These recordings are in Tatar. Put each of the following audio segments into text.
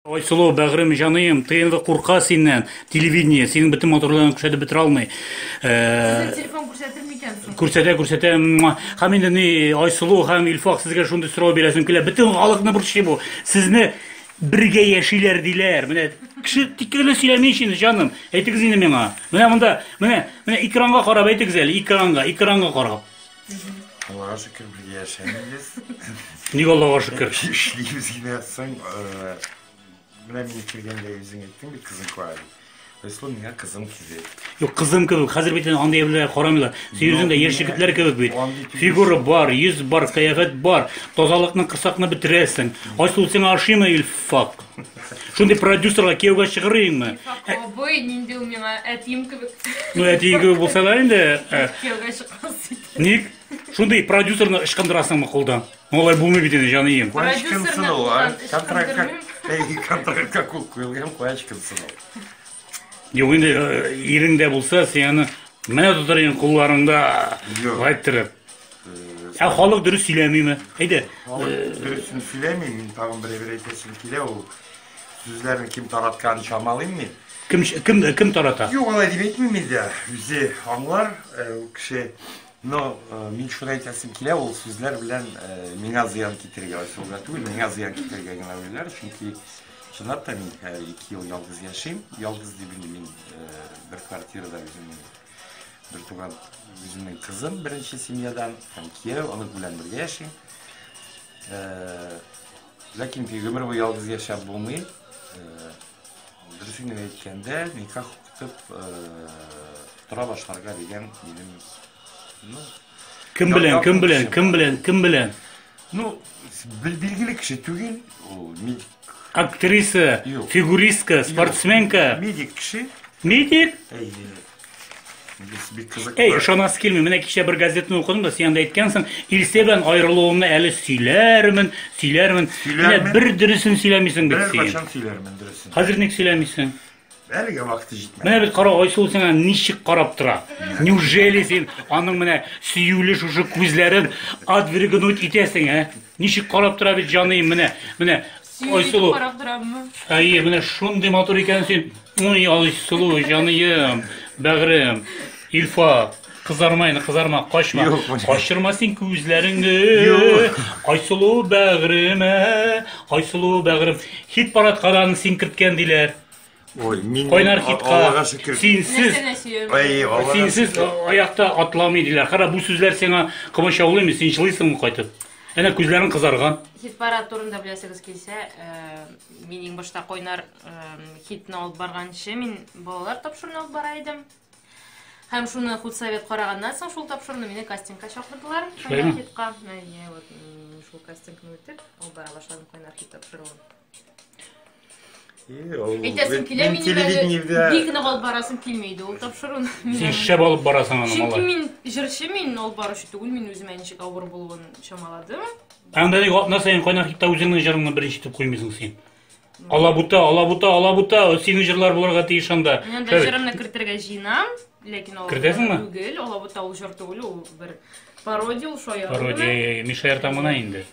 Айсылу, бәгърем, җаныем, ТНВ курка синнән, телевидение, синең бөтен матурлыгыңны күрсәтеп бетерә алмый. Ә, Телефон күрсәтер микән соң? Күрсәтә, күрсәтә. муа. Һәм инде ни, Айсылу һәм Илфак сезгә шундый сорау бирәсем килә. Бөтен халыкны борчый бу. Сезне бергә яшиләр диләр. Менә кеше тик кенә сөйләми ич инде, җаным. Әйтегез инде миңа. Менә монда, менә, менә экранга карап әйтегез әле, экранга, экранга карап. Аллага шөкер бергә яшәмибез. Ник Аллага шөкер? Эшлибез генә соң э, менә мин килгәндә үзең әйттең бит кызың куа дип. Рәсул миңа кызым килде. Юк, кызым кебек, хәзер бит инде андый әйберләргә карамыйлар. Син үзең дә яшь егетләр кебек бит. Андый түгел. Фигура бар, йөз бар, кыяфәт бар. Тазалыкны кысакны бетерәсең. Айсул сиңа ошыймы Илфак? Шундый продюсерга кияүгә чыгарыйңмы? Абый, нинди ул миңа әтием кебек. Ну, әтиең кебек булса да инде. э, Кияүгә чык. Ник? Шундый продюсерны ычкындырасыңмы кулдан? Алай булмый бит инде, җаныем. Продюсерны кулдан ычкындырмыйм. Әй, контрактка кул куелган, куя ычкынсын ул. Юк инде, э, иреңдә булса, син аны менә тотыр идең кулларыңда гаеттереп. Ә халык дөрес сөйләмиме? Әйдә. Халык э, дөресен сөйләми, мин тагын берәбер әйтәсем килә ул. Сүзләрен кем таратканын чамалыйм мин. Кем кем кем тарата? Юк, алай дип әйтмим инде. Үзе аңлар ул кеше. Но мин шуны әйтәсем килә, ул сүзләр белән миңа зыян китерергә ачуга түгел, миңа зыян китерергә генә уйлар, чөнки чынлап та мин ике ел ялгыз яшим. Ялгыз дип инде мин бер квартирада үземнең бертуган үземнең кызым беренче семьядан һәм кияү, онык белән бергә яшим. Ләкин ди, гомер буе ялгыз яшәп булмый. Дөресен генә әйткәндә, никах укытып тора башларга дигән минем, ну, Кем белән, кем белән, кем белән, кем белән? Ну, билгеле кеше түгел, ул медик. Актриса, фигуристка, спортсменка. Медик кеше. Медик? Бик кызыклы. Әй, ышанасы килми. Менә кичә бер газетны укыдым да, син анда әйткәнсең, Илсә белән аерылуымны әле сөйләрмен, сөйләрмен. Менә бер дөресен сөйләмисең бит син. Беркайчан сөйләрмен дөресен. Хәзер ник сөйләмисең? Әлегә вакыты җитмәде. Менә бит кара Айсылу сиңа ничек карап тора. Неужели син аның менә сөюле шушы күзләрен отвергнуть итәсең, ә? Ничек карап тора бит җаныем менә. Менә Сине Ой, сылу. карап тораммы? Әйе, менә шундый матур икән син. Уй, Айсылу, җаныем, бәгырем, Илфа, кызарма инде, кызарма, качма. Юк, менә. Качырма син күзләреңне. Юк. Айсылу бәгыреме, Айсылу бәгырем. Хит парадка да аны син керткән диләр. Ой, мин Кайнар китка. Аллага шөкер. Синсез Нәрсәне сөйөм? Ай, Аллага Синсез шөкер. а- аякта атламый диләр. Кара, бу сүзләр сиңа кымычаулыймы? Син җылыйсыңмы кайтып? Әнә күзләрең кызарган. Хит парад турында беләсегез килсә, э, мин иң башта Койнар э, хитны алып барганчы мин балалар тапшыруын алып бара идем. Һәм шуны худсовет караганнан соң шул тапшыруны мине кастингка чакырдылар. Шулаймы? Койнар хитка. Әйе, вот м, шул кастингны үтеп, алып бара башладым Койнар хит тапшыруын. Әйтәсем килә мин телевидениедә бик нык алып барасым килми иде ул тапшыруны. Син шәп алып барасың аны, Чөнки мин җырчы мин алып баручы түгел, мин үземә ничек авыр булуын чамаладым. Анда ник атна саен кайнар хитта үзеңнең җырыңны беренче итеп куймыйсың син. Алабута, алабута, алабута, синең җырлар булырга тиеш анда. Мин анда җырымны кертергә җыенам, ләкин алабута Кертәсеңме? түгел, алабута ул җыр түгел, ул бер пародия ул шаян. Пародия, Мишә Артамына инде.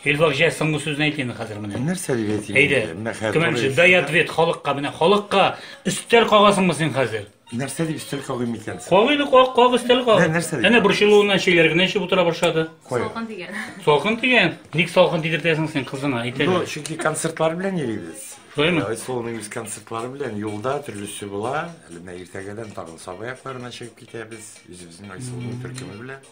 Илбак җә, соңгы сүзне әйт инде хәзер менә. Нәрсә дип әйтим? Әйдә. Менә хәзер. Кемемче дай ответ халыкка, менә халыкка өстәл кагасыңмы син хәзер? Нәрсә дип өстәл кагыйм икән? Кагыйны каг, каг өстәл каг. Менә нәрсә дип? Әнә борчылуыннан чәйләр генә эчеп утыра башлады. Салкын дигән. Салкын дигән. Ник салкын тидертәсең син кызыңа? Әйт әле. Ну, чөнки концертлар белән йөрибез. Шулаймы? Айсылуның үз концертлары белән юлда төрлесе була. Әле менә иртәгәдән тагын Саба якларына чыгып китәбез. Үзебезнең Айсылуның төркеме белән.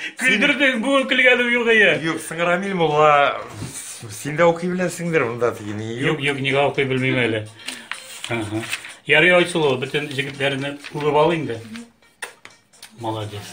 Син... Күлдердең, буын күлгәле югые. Юк, син Рамиль Мулла, син дә укый беләсеңдер монда тиген. Юк, юк, нигә укый белмим әле. Ага. Ярый Айсулу, бөтен җегетләрне күреп ал инде. Молодец.